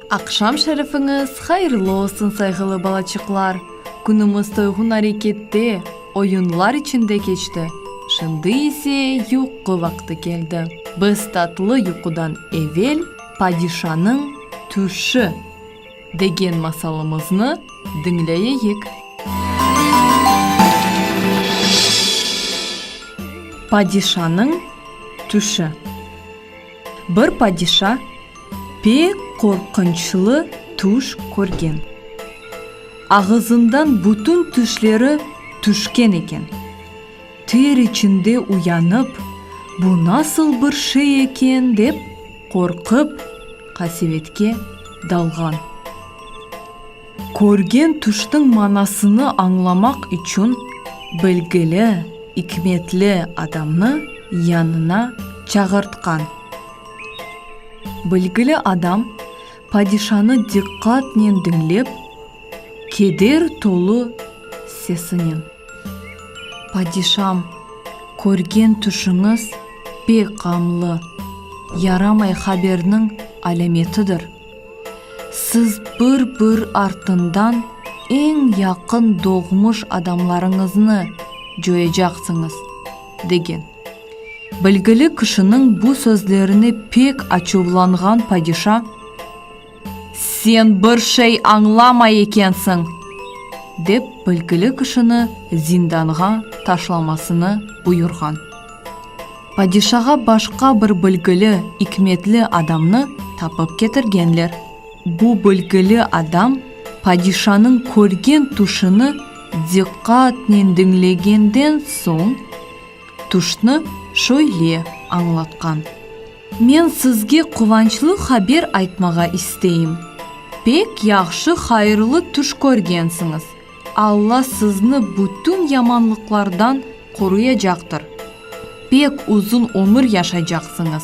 Aqşam şerifiñiz hayırlı olsun, sayğılı balaçıqlar! Künümiz toyğun arekette, oyunlar içinde keçti. Şimdi ise yuqu vaqtı keldi. Biz tatlı yuqudan evel padişanıñ tüşü. Degen masalımıznı diñleyeyik. Padişanıñ tüşi. Bir padişa pek qorqunçlı tüş körgen. Ağızından bütün tüşleri tüşken eken. Ter içinde uyanıp, bu nasıl bir şey eken dep. Qorqıp, qasevetke dalğan. Körgen tüşniñ manasını añlamaq içün bilgili, ikmetli adamnı yanına çağırtqan. Bilgili adam padişanı diqqatnen diñlep, keder tolu sesinen, Padişam, körgen tüşüñiz pek ğamlı, yaramay haberniñ alâmetidir. Siz bir-bir artından eñ yaqın doğmuş adamlarıñıznı coyacaqsıñız. Degen. Bilgili kişiniñ bu sözlerine pek açuvlanğan padişa, Sen bir şey añlamay ekensiñ! dep bilgili kişini zindanğa taşlamasını buyurğan. Padişağa başqa bir bilgili, ikmetli adamnı tapıp ketirgenler. Bu bilgili adam padişanıñ körgen tüşüni Diqqatnen diñlegenden soñ, tüşnü şöyle añlatqan, Men sizge quvançlı haber aytmağa isteyim, pek yahşı hayırlı tüş körgensiñiz, Alla sizni bütün yamanlıqlardan qoruyacaqtır, pek uzun ömür yaşaycaqsıñız.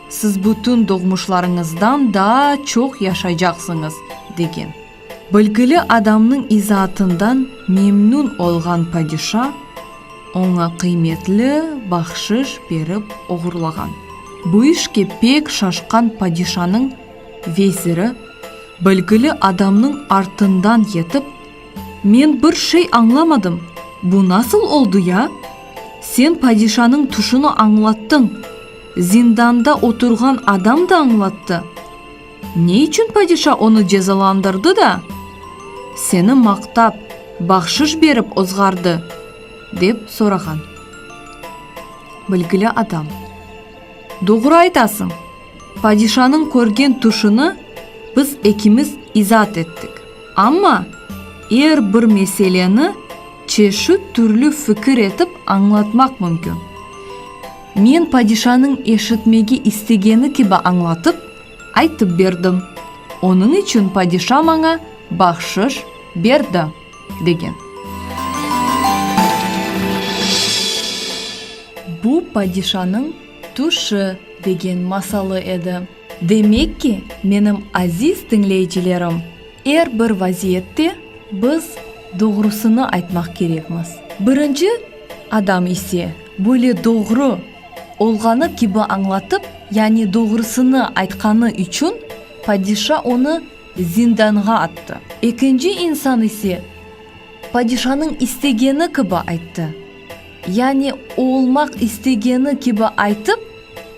Siz bütün doğmuşlarıñızdan daa çoq yaşaycaqsıñız, degen. Bilgili adamnıñ izaatından memnün olğan padişa oña qıymetli bahşış berip oğurlağan. Bu işke pek şaşqan padişanıñ veziri bilgili adamnıñ artından yetip, Men bir şey añlamadım, bu nasıl oldı ya? Sen padişanıñ tüşüni añlattıñ, zindanda oturğan adam da añlattı. Ne içün padişa onı cezalandırdı da, seni maqtap, bahşış berip ozğardı? dep sorağan. Bilgili adam, Doğru aytasıñ, padişanıñ körgen tüşüni biz ekimiz izaat ettik. Amma er bir meseleni çeşit türlü fikir etip añlatmaq mümkün. Men padişanıñ eşitmege istegeni kibi añlatıp, Aytıp berdim. Onıñ içün padişa maña bahşış berdi, degen. Bu padişanıñ tüşi degen masalı edi. Demek ki, menim aziz diñleyicilerim, er bir vaziyette biz doğrusını aytmaq kerekmiz. Birinci adam ise böyle doğru. Olğanı kibi añlatıp, yani doğrusını aytqanı içün padişa onı zindanğa attı. Ekinci insan ise padişanıñ istegeni kibi ayttı, yani oolmaq istegeni kibi aytıp,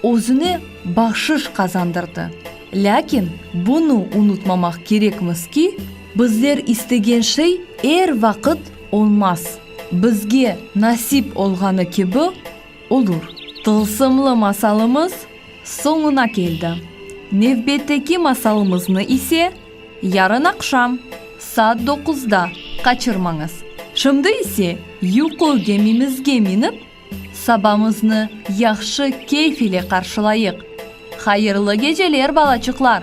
özüne bahşış qazandırdı. Lâkin bunı unutmamaq kerekmiz ki, bizler istegen şey er vaqıt olmaz. Bizge nasip olğanı kibi. Olur. Tılsımlı masalımız soñuna keldi. Nevbetteki masalımıznı ise yarın aqşam saat doquzda qaçırmañız. Şimdi ise yuqu gemimizge minip, sabamıznı yahşı keyf ile qarşılayıq. Hayırlı geceler, balaçıqlar!